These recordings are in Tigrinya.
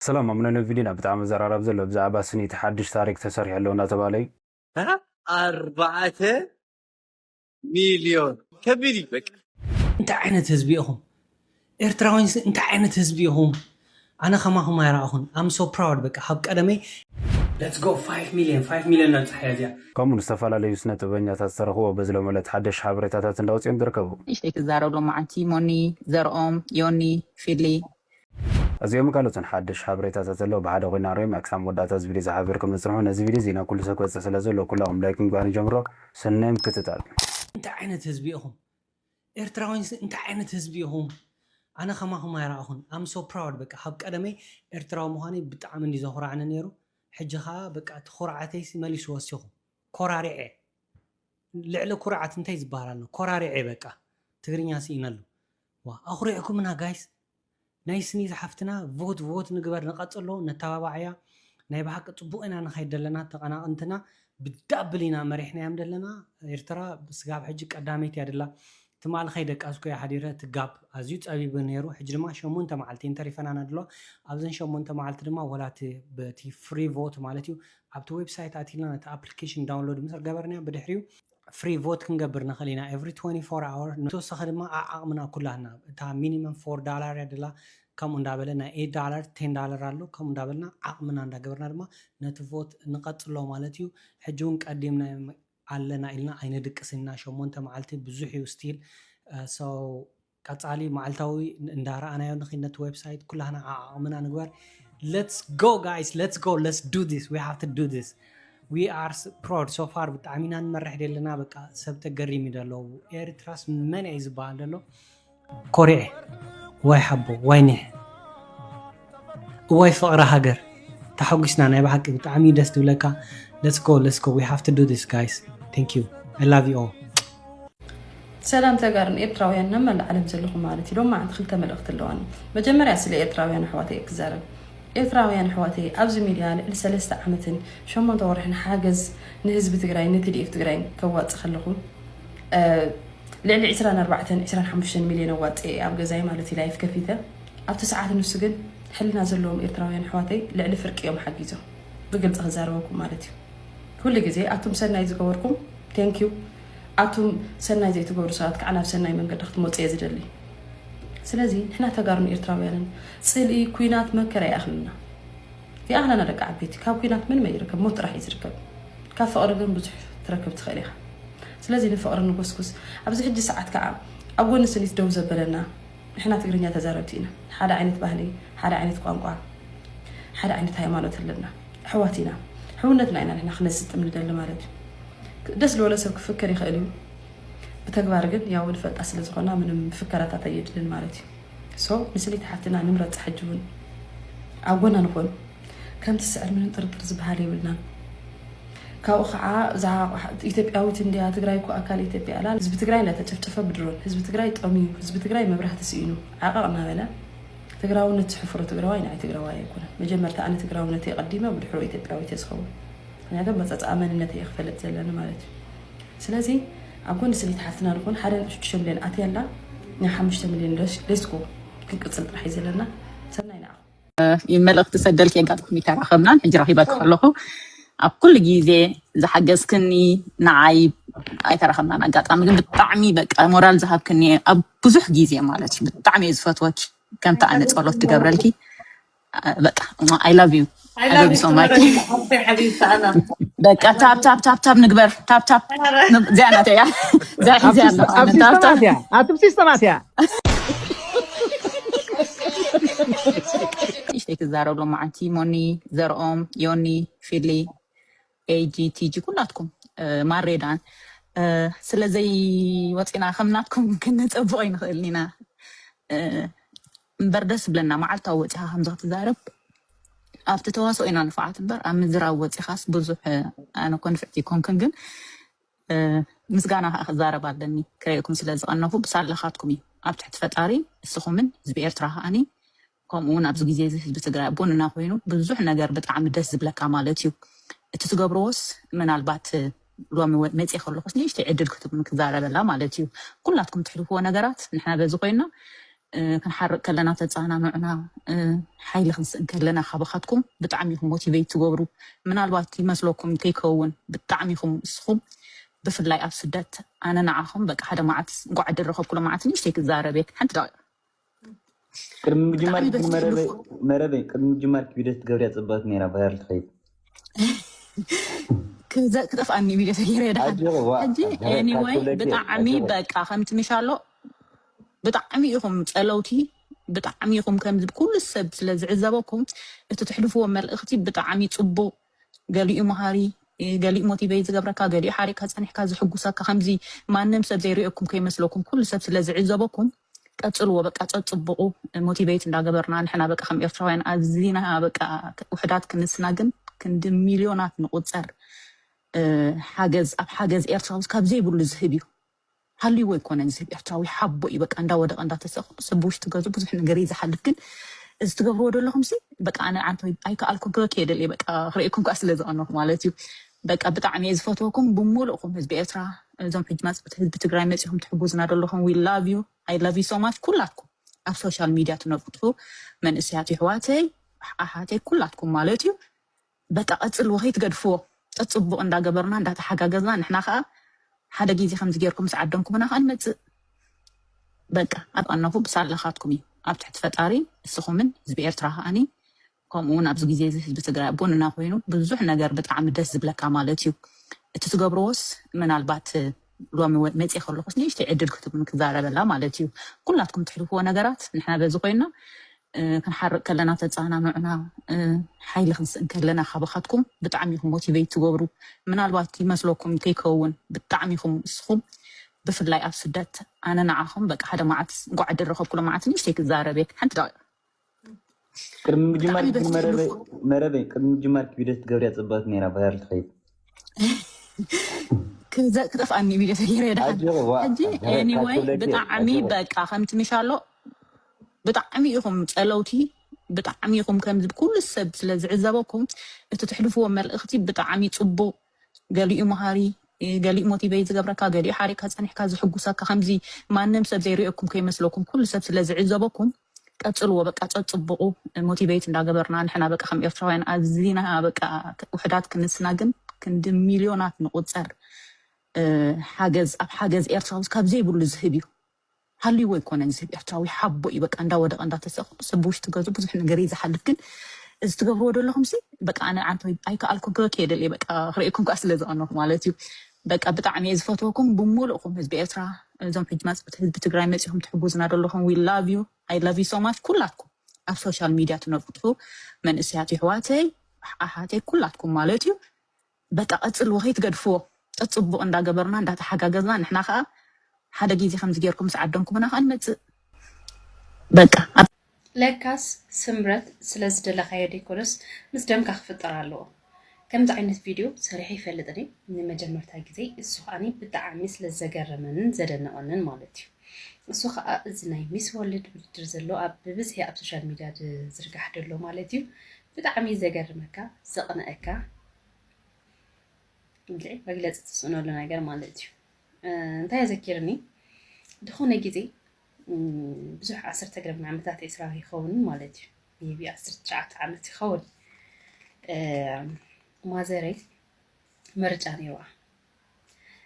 ሰላም ኣቡነ ነቪዲና ብጣዕሚ ዘራራብ ዘሎ ብዛዕባ ስኒት ሓድሽ ታሪክ ተሰሪሑ ኣሎ እንዳተባህለ እዩ። ኣርባዕተ ሚልዮን ከቢድ እዩ በቃ። እንታይ ዓይነት ህዝቢ ኢኹም ኤርትራውይንስ እንታይ ዓይነት ህዝቢ ኢኹም ኣነ ከማኹም ኣይረኣኹን ኣም ሶ ፕራውድ በቃ ካብ ቀደመይ ለትስ ጎ ፋይፍ ሚልዮን ፋይፍ ሚልዮን ነብጽሓያ እዚኣ። ከምኡ ን ዝተፈላለዩ ስነ ጥበበኛታት ዝተረኽብዎ በዚ ሎሚ ዕለት ሓደሽቲ ሓበሬታታት እንዳውጽኦም ዝርከቡ። ንእሽተይ ክዛረብ ሎማዓንቲ ሞኒ ዘርኦም ዮኒ ፊሊ እዚኦምን ካልኦትን ሓድሽ ሓበሬታታት ኣለዉ ብሓደ ኮይና ሪኦም እያ ክሳብ መወዳእታ እዚ ቪድዮ ዝሓበርኩም ነጽንሑ ነዚ ቪድዮ እዚ ናብ ኩሉ ሰብ ክበጽሕ ስለ ዘለዎ ኩላኹም ላይክ ምግባር ንጀምሮ ሰናይ ምክትታል። እንታይ ዓይነት ህዝቢ ኢኹም ኤርትራውይንስ እንታይ ዓይነት ህዝቢ ኢኹም ኣነ ከማኹም ኣይረኣኹን I'm so proud በቃ ካብ ቀደመይ ኤርትራዊ ምዃነይ ብጣዕሚ እንድዩ ዘኹራዕኒ ኔሩ ሕጂ ከኣ በቃ እቲ ኩርዓተይሲ መሊሱ ወሲኹ ኮራሪዐ ልዕሊ ኩርዓት እንታይ ዝበሃል ኣሎ ኮራሪዐ በቃ ትግርኛ ስኢነሉ ዋእ ኣኹሪዕኩምና ጋይስ ናይ ስኒ ዝሓፍትና ቮት ቮት ንግበር ንቀጽሎ ነተባባዓያ ናይ ብሓቂ ጽቡቅ ኢና ንኸይድ ደለና ተቀናቅንትና ብዳብል ኢና መሪሕናዮም ደለና ኤርትራ ስጋብ ሕጂ ቀዳመይቲ እያ ደላ ትማል ከይደቃስኩ እያ ሓዲረ እቲ ጋብ ኣዝዩ ጸቢብ ነይሩ ሕጂ ድማ ሸሞንተ መዓልቲ እየን ተሪፈናና ደለዋ ኣብዘን ሸሞንተ መዓልቲ ድማ ወላ እቲ በቲ ፍሪ ቮት ማለት እዩ ኣብቲ ዌብሳይት ኣቲልና ነቲ ኣፕሊኬሽን ዳውንሎድ ምስ ገበርናዮ ብድሕሪኡ ፍሪ ቮት ክንገብር ንኽእል ኢና ኤቭሪ ትወንቲ ፎር ኣወር ንተወሳኺ ድማ ኣዓቕምና ኩላትና እታ ሚኒመም ፎር ዳላር እያ ደላ ከምኡ እንዳበለ ናይ ኤት ዳላር ቴን ዳላር ኣሎ ከምኡ እንዳበልና ዓቕምና እንዳገበርና ድማ ነቲ ቮት ንቐጽሎ ማለት እዩ ሕጂ እውን ቀዲምና ኣለና ኢልና ኣይነድቅስን ኢና ሸሞንተ መዓልቲ ብዙሕ እዩ ስቲል ሰው ቀጻሊ መዓልታዊ እንዳ ረኣናዮ ንኺድ ነቲ ዌብሳይት ኩላህና ዓዓቕምና ንግበር let's go guys let's go let's do this we have to do this we are proud so far ብጣዕሚ ኢና ንመርሕ ደለና በቃ ሰብ ተገሪም እዩ ደሎ ኤርትራስ መን እዩ ዝበሃል ደሎ ኮርኤ ዋይ ሓቦ ዋይ ኒሕ እዋይ ፍቅሪ ሃገር ተሓጒስና ናይ ብሓቂ ብጣዕሚ እዩ ደስ ዝብለካ let's go let's go we have to do this guys thank you i love you all ሰላም ተጋርን ኤርትራውያን ናብ መላእ ዓለም ዘለኹም ማለት እዩ ሎማዓንቲ ክልተ መልእኽቲ ኣለዋኒ መጀመርያ ስለ ኤርትራውያን ኣሕዋተይ ክዛረብ ኤርትራውያን ኣሕዋተይ ኣብዚ ሚድያ ልዕሊ ሰለስተ ዓመትን ሸሞንተ ወርሕን ሓገዝ ንህዝቢ ትግራይ ንቲዲኤፍ ትግራይ ከዋፅ ከለኹ ልዕሊ 24 25 ሚሊዮን ኣዋፅ ኣብ ገዛይ ማለት እዩ ላይፍ ከፊተ ኣብቲ ሰዓት ንሱ ግን ሕልና ዘለዎም ኤርትራውያን ኣሕዋተይ ልዕሊ ፍርቂ እዮም ሓጊዞም ብግልጺ ክዛረበኩም ማለት እዩ ኩሉ ግዜ ኣቱም ሰናይ ዝገበርኩም thank you ኣቱም ሰናይ ዘይትገብሩ ሰባት ከዓ ናብ ሰናይ መንገዲ ክትመጹ እየ ዝደሊ ስለዚ ንሕና ተጋሩን ኤርትራውያንን ጽልኢ ኩናት መከራ ይኣኽለና ይኣኽለና ደቂ ዓበይቲ ካብ ኩናት ምንም ኣይርከብ ሞት ጥራሕ እዩ ዝርከብ ካብ ፍቕሪ ግን ብዙሕ ትረክብ ትኽእል ኢኻ ስለዚ ንፍቕሪ ንጎስጉስ ኣብዚ ሕጂ ሰዓት ከዓ ኣብ ጎኒ ስኒት ደው ዘበለና ንሕና ትግርኛ ተዛረብቲ ኢና ሓደ ዓይነት ባህሊ ሓደ ዓይነት ቋንቋ ሓደ ዓይነት ሃይማኖት ኣለና ኣሕዋት ኢና ሕውነትና ኢና ንሕና ክነስጥም ንደሊ ማለት እዩ ደስ ዝበሎ ሰብ ክፍክር ይኽእል እዩ ብተግባር ግን ያው ንፈልጣ ስለ ዝኾና ምንም ፍከራታት ኣየድልን ማለት እዩ ሶ ንስሊት ሓፍትና ንምረፅ ሕጂ እውን ኣብ ጎና ንኾን ከምቲ ስዕር ምንም ጥርጥር ዝበሃል የብልናን ካብኡ ካዓ እዛ ኢትዮጵያዊት እንድያ ትግራይ እኮ ኣካል ኢትዮጵያ እላ ህዝቢ ትግራይ እንዳተጨፍጨፈ ብድሮን ህዝቢ ትግራይ ጠምዩ ህዝቢ ትግራይ መብራህቲ ስኢኑ ዓቀቅ እናበለ ትግራውነት ዝሕፍሮ ትግራዋይ ንዓይ ትግራዋይ ኣይኮነን መጀመርታ ኣነ ትግራውነተይ ቀዲመ ብድሕሮ ኢትዮጵያዊት እየ ዝኸውን ምክንያቱ ኣመፃፅኣ መንነት እየ ክፈልጥ ዘለኒ ማለት እዩ ስለዚ ኣብ ጎኒ ስኒት ሓፍትና ንኹን ሓደ ነጥቢ ሽዱሽተ ሚልዮን ኣትያ ኣላ ናይ ሓሙሽተ ሚልዮን ሌስኮ ክንቅፅል ጥራሕ እዩ ዘለና ሰናይ ንዓኹም መልእኽቲ ሰደልኪ ኣጋጣሚ ተራኸብናን ሕጂ ረኺበኪ ከለኹ ኣብ ኩሉ ግዜ ዝሓገዝክኒ ንዓይ ኣይተረኸብናን ኣጋጣሚ ግን ብጣዕሚ በቃ ሞራል ዝሃብክኒ ኣብ ብዙሕ ግዜ ማለት እዩ ብጣዕሚ እየ ዝፈትወኪ ከምቲ ኣነ ጸሎት ትገብረልኪ በቃ ኣይ ላቭ ዩ ኣይ ሶ ማች በቃ ታብ ታብ ታብ ታብ ንግበር ታብ ታብ ዚያ ናተያ ዚያ ሒዚያ ኣለኹ ታብ ታብ ኣትብሲ ስተማትያ ንእሽተይ ትዛረብ ሎማዓንቲ ሞኒ ዘርኦም ዮኒ ፊሊ ኤጂ ቲጂ ኩላትኩም ማሬ ዳን ስለዘይ ወፂና ከም ናትኩም ክንፀብቕ ኣይንኽእልን ኢና እምበር ደስ ብለና መዓልታዊ ወፂኻ ከምዚ ክትዛረብ ኣብቲ ተዋስኦ ኢና ንፍዓት እምበር ኣብ ምዝራብ ወፂኻስ ብዙሕ ኣነ ኮ ንፍዕቲ ይኮንክን ግን ምስጋና ከኣ ክዛረብ ኣለኒ ክርእየኩም ስለ ዝቀነኹ ብሳላኻትኩም እዩ ኣብ ትሕቲ ፈጣሪ እስኹምን ህዝቢ ኤርትራ ከኣኒ ከምኡ ውን ኣብዚ ግዜ እዚ ህዝቢ ትግራይ ኣቦንና ኮይኑ ብዙሕ ነገር ብጣዕሚ ደስ ዝብለካ ማለት እዩ እቲ ትገብርዎስ ምናልባት ሎሚ መፅእ ከለኹስ ንእሽተይ ዕድል ክትብሉን ክዛረበላ ማለት እዩ ኩላትኩም ትሕልፍዎ ነገራት ንሕና በዚ ኮይና ክንሓርቅ ከለና ተጻናኑዑና ሓይሊ ክንስእን ከለና ካባካትኩም ብጣዕሚ ኢኩም ሞቲቨይት ትገብሩ ምናልባት ይመስለኩም ከይከውን ብጣዕሚ ኢኩም ንስኩም ብፍላይ ኣብ ስደት ኣነ ንዓኩም በቃ ሓደ መዓልቲ እንቋዕ ዕድል ረከብኩ ሎምዓልቲ ንእሽተይ ክዛረብ እየ ሓንቲ ደቂቅ ቅድሚ ምጅማር ግን መረበይ መረበይ ቅድሚ ምጅማር ቪድዮ ትገብርያ ጽብቕቲ ነይራ ባህር ትኸይድ ክዘ- ክጠፍኣኒ ቪድዮ ተገይረ ይደሓን ኣጆኺ ዋ ሕጂ ኤኒወይ ብጣዕሚ በቃ ከምቲ ሚሻሎ ብጣዕሚ ኢኹም ጸለውቲ ብጣዕሚ ኢኹም ከምዚ ኩሉ ሰብ ስለ ዝዕዘበኩም እቲ ትሕልፍዎ መልእኽቲ ብጣዕሚ ጽቡቕ ገሊኡ መሃሪ ገሊኡ ሞቲቨይ ዝገብረካ ገሊኡ ሓሪቕካ ጸኒሕካ ዝሕጉሰካ ከምዚ ማንም ሰብ ዘይርእየኩም ከይመስለኩም ኩሉ ሰብ ስለ ዝዕዘበኩም ቀጽልዎ በቃ ጸጽቡቑ ሞቲቨይት እንዳገበርና ንሕና በቃ ከም ኤርትራውያን ኣዚና በቃ ውሕዳት ክንስና ግን ክንዲ ሚልዮናት ንቑጸር ሓገዝ ኣብ ሓገዝ ኤርትራውስ ካብ ዘይብሉ ዝህብ እዩ ሃልይዎ ኣይኮነን ዝህብ ኤርትራዊ ሓቦ እዩ በቃ እንዳ ወደቀ እንዳ ተሰቀ ሰብ ብውሽጢ ገዝኡ ብዙሕ ነገር እዩ ዝሓልፍ ግን እዚ ትገብርዎ ደለኹምሲ በቃ ኣነ ዓንተ ኣይከኣልኩን ክበኪ እየ ደልየ በቃ ክርእየኩም ከኣ ስለ ዝቀነኹ ማለት እዩ በቃ ብጣዕሚ እየ ዝፈትወኩም ብሙሉእኩም ህዝቢ ኤርትራ እዞም ሕጂ ማጽብቲ ህዝቢ ትግራይ መጺኹም ትሕጉዝና ደለኹም ዊ ላቭ ዩ ኣይ ላቭ ዩ ሶ ማች ኩላትኩም ኣብ ሶሻል ሚድያ ትነጥፉ መንእሰያት ይሕዋተይ ኣሓተይ ኩላትኩም ማለት እዩ በቃ ቀጽልዎ ከይትገድፍዎ ጸጽቡቅ እንዳ ገበርና እንዳ ተሓጋገዝና ንሕና ከኣ ሓደ ጊዜ ከምዚ ጌርኩም ምስ ዓደምኩምና ከኣ ንመጽእ በቃ ኣብ ኣነኹ ብሳላኻትኩም እዩ ኣብ ትሕቲ ፈጣሪ እስኹምን ህዝቢ ኤርትራ ከኣ ከምኡ ውን ኣብዚ ጊዜ እዚ ህዝቢ ትግራይ ኣብ ጎንና ኮይኑ ብዙሕ ነገር ብጣዕሚ ደስ ዝብለካ ማለት እዩ እቲ ትገብርዎስ ምናልባት ሎሚ ወ መጽየ ከለኹስ ንእሽተይ ዕድል ክትብሉኒ ክዛረበላ ማለት እዩ ኩላትኩም ትሕልፍዎ ነገራት ንሕና በዚ ኮይና ክንሓርቅ ከለና ተጸናንዑና ሓይሊ ክንስእን ከለና ካባኻትኩም ብጣዕሚ ኢኹም ሞቲቨይት ትገብሩ ምናልባት ይመስለኩም ከይከውን ብጣዕሚ ኢኹም እስኹም ብፍላይ ኣብ ስደት ኣነ ንዓኹም በቃ ሓደ መዓልቲ እንኳዕ ዕድል ረኸብኩሎ መዓልቲ ንእሽተይ ክዛረብ እየ ሓንቲ ደቂቕ ቅድሚ ምጅማር ብጣዕሚ ደስ መረበይ ዝብሉ መረበይ ቅድሚ ምጅማር ቪድዮ ትገብርያ ፅብቅቲ ነይራ ቫይራል ትኸይድ ክዘ- ክጠፍኣኒ ቪድዮ ተገይረ ድሓን ኣጆኺ ዋ ሕጂ ገረ ካብ ኤኒወይ ክብለኪ ብጣዕሚ ኣጆኺ በቃ ከምቲ ምሻሎ ብጣዕሚ ኢኹም ጸለውቲ ብጣዕሚ ኢኹም ከምዚ ኩሉ ሰብ ስለ ዝዕዘበኩም እቲ ትሕልፍዎ መልእኽቲ ብጣዕሚ ጽቡቕ ገሊኡ መሃሪ ገሊኡ ሞቲቨይት ዝገብረካ ገሊኡ ሓሪቅካ ጸኒሕካ ዝሕጉሰካ ከምዚ ማንም ሰብ ዘይሪኦኩም ከይመስለኩም ኩሉ ሰብ ስለ ዝዕዘበኩም ቀጽልዎ በቃ ጸጽቡቁ ሞቲቨይት እንዳገበርና ንሕና በቃ ከም ኤርትራውያን ኣዚና በቃ ውሕዳት ክንስና ግን ክንዲ ሚልዮናት ንቁጸር ሓገዝ ኣብ ሓገዝ ኤርትራውስ ካብ ዘይብሉ ዝህብ እዩ ሃልይዎ ኣይኮነን ሰብ ኤርትራዊ ሓቦ እዩ በቃ እንዳወደቀ እንዳተሰቀ ሰብ ብውሽጢ ገዝኡ ብዙሕ ነገር እዩ ዝሓልፍ ግን እዚ ትገብርዎ ደለኹምሲ በቃ ኣነ ኣንተ ኣይከኣልኩን ክበኪ እየ ደልየ በቃ ክርእየኩም ከኣ ስለ ዝቀነኹ ማለት እዩ በቃ ብጣዕሚ እየ ዝፈትወኩም ብሙሉእኩም ህዝቢ ኤርትራ እዞም ሕጂ ማጽብቲ ህዝቢ ትግራይ መጺኹም ትሕጉዝና ደለኹም ዊ ላቭ ዩ ኣይ ላቭ ዩ ሶ ማች ኩላትኩም ኣብ ሶሻል ሚድያ ትነብጡ መንእሰያት ይሕዋተይ ኣሓተይ ኩላትኩም ማለት እዩ በቃ ቀጽልዎ ከይትገድፍዎ ጸጽቡቅ እንዳ ገበርና እንዳ ተሓጋገዝና ንሕና ከኣ ሓደ ጊዜ ከምዚ ጌርኩም ምስ ዓደምኩምና ከኣ ንመጽእ በቃ ኣብ። ለካስ ስምረት ስለ ዝደለካዮ ደይኮነስ ምስ ደምካ ክፍጠር ኣለዎ። ከምዚ ዓይነት ቪድዮ ሰሪሐ ኣይፈልጥን እየ ንመጀመርታ ግዜይ እሱ ከኣ ብጣዕሚ ስለ ዘገረመንን ዘደነቀንን ማለት እዩ እሱ ከኣ እዚ ናይ ሚስ ወርልድ ውድድር ዘሎ ኣብ ብብዝሒ ኣብ ሶሻል ሚድያ ዝርጋሕ ደሎ ማለት እዩ ብጣዕሚ ዘገርመካ ዘቅነኣካ እንግዲህ መግለጽ ተስኖሉ ነገር ማለት እዩ እንታይ ዘኪርኒ ዝኾነ ግዜ ብዙሕ ዓሰርተ ገረብ ዓመታት ኤስራ ይኸውን ማለት እዩ ሜቢ ዓሰርተ ትሽዓተ ዓመት ይኸውን ማዘረይ ምርጫ ነይሩዋ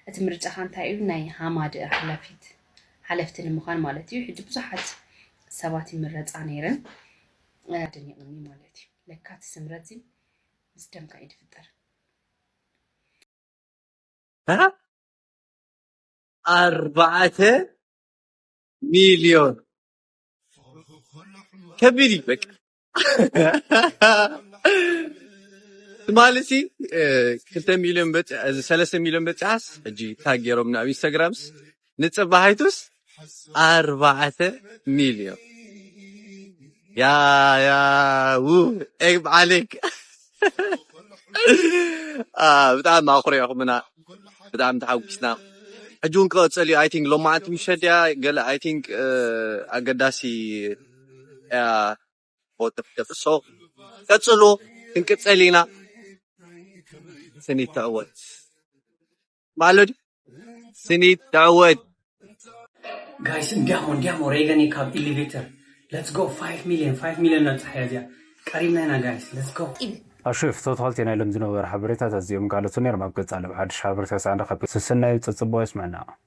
እቲ ምርጫ ካ እንታይ እዩ ናይ ሃማድ ሓላፊት ሓለፍቲ ንምዃን ማለት እዩ ሕጂ ብዙሓት ሰባት ይምረፃ ነይረን ደኒቕኒ ማለት እዩ ለካ እቲ ስምረት ምስ ደምካ እዩ ዝፍጠር። ኣርባዕተ ሚልዮን ከቢድ እዩ በቃ ትማሊ ሲ ክልተ ሚልዮን በፂ- እዚ ሰለስተ ሚልዮን በፂሓስ ሕጂ ታግ ገይሮምና ኣብ ኢንስታግራምስ ንጽባሒቱስ ኣርባዕተ ሚልዮን ያያዉ ኤግ ዓሌክ ብጣዕሚ ኣኹሪዕኹምና ብጣዕሚ ተሓጒስና ሕጂ እውን ክቐጸል እዩ ኣይ ቲንክ ሎማዓንቲ ምሸት ድያ ገለ ኣይ ቲንክ ኣገዳሲ እያ ደፍሶ ቀጽሉ ክንቅጸል ኢና ስኒት ትዕወት ማለዱ ስኒት ተዕወት ጋይስ እንዲያሞ እንዲያሞ ሬገኔ ካብ ኢሊቬተር ለትስ ጎ 5 ሚሊዮን 5 ሚሊዮን ነብጽሓያ እዚኣ ቀሪብና ኢና ጋይስ ለትስ ጎ ኣሹፍ ቶታልቲ ናይ ሎም ዝነበሩ ሓበሬታታት እዚኦምን ካልኦትን ነይሮም ኣብ ቀጻሊ ብሓድሽ ሓበሬታ ሳዕ ንራኸብ ሰሰናዩ ጸጸብቑ የስመዐና።